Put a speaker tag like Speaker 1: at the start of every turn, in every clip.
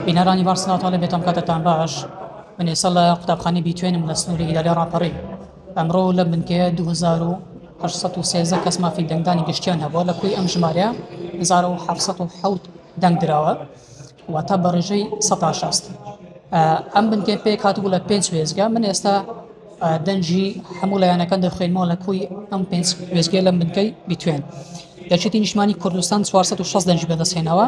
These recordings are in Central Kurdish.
Speaker 1: بینەرانی بەڕ سڵاوتان لێ بێت ئەمکاتەتان باش من ئێستا لە قوتابخانەی بیتوێنم لە سنووری ئیدارەی ڕاپەڕین ئەمڕۆ لە بنکەیە 2813 کەس مافی دەنگدانی گشتیان هەبووە لە کوی ئەم ژمارە 1970 دەنگ دراوە واتە بە ڕێژەی 16 ئەم بنکێ پێک هاتبوو لە پێنج وێزگە من ئێستا دەنجی هەموو لایەنەکان دەخوێنمەوە لە کوی ئەم پێنج وێزگە لەم بنکەی بیتوێن دەچێتی نیشمانی کوردستان 460 دەنج بەدەستێنەوە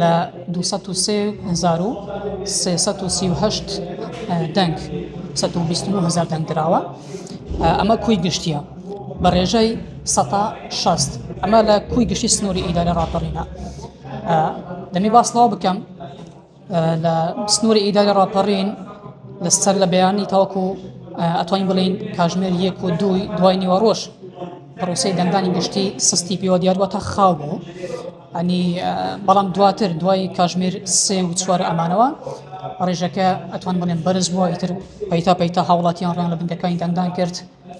Speaker 1: لە دوو سەد و سێ هەزار و سێ سەد و سی و هەشت دەنگ سەد و بیست و نۆ هەزار دەنگ دراوە ئەمە کوی گشتیە بە ڕێژەی سەتا شەست ئەمە لە کوی گشتی سنووری ئیدارە ڕاپەڕینە دەمی باسنەوە بکەم لە سنووری ئیداری ڕاپەڕین لەسەر لە بەیانی تاوەکو ئەتوانین بڵین کاژمێر یەک و دووی دوای نیوەڕۆژ پرۆسی دەنگدانی گشتی سستی پێوە دیار واتە خاو بوو ئەنی بەڵام دواتر دوای کاژمێر سێ و چوار ئەمانەوە ڕێژەکە ئەتوان بڵێن بەرز بووە ئیتر پەیتا پەیتا هاوڵاتیان ڕیان لە بنکەکانی دەنگدان کرد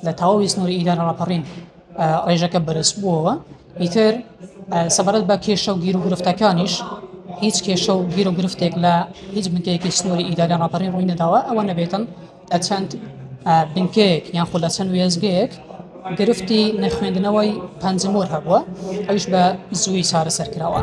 Speaker 1: لە تەواوی سنووری ئیدارە ڕاپەڕین ڕێژەکە بەرز بووەوە ئیتر سەبارەت بە کێشە و گیر و گرفتەکانیش هیچ کێشە و گیر و گرفتێک لە هیچ بنکەیەکی سنووری ئیدارە ڕاپەڕین ڕووی نەداوە ئەوە نەبێتن لە چەند بنکەیەک یان خۆ لە چەند وێستگەیەک گرفتی نەخوێندنەوەی پەنجمۆر هەبووە ئەوش بە زووی چارەسەر کراوە.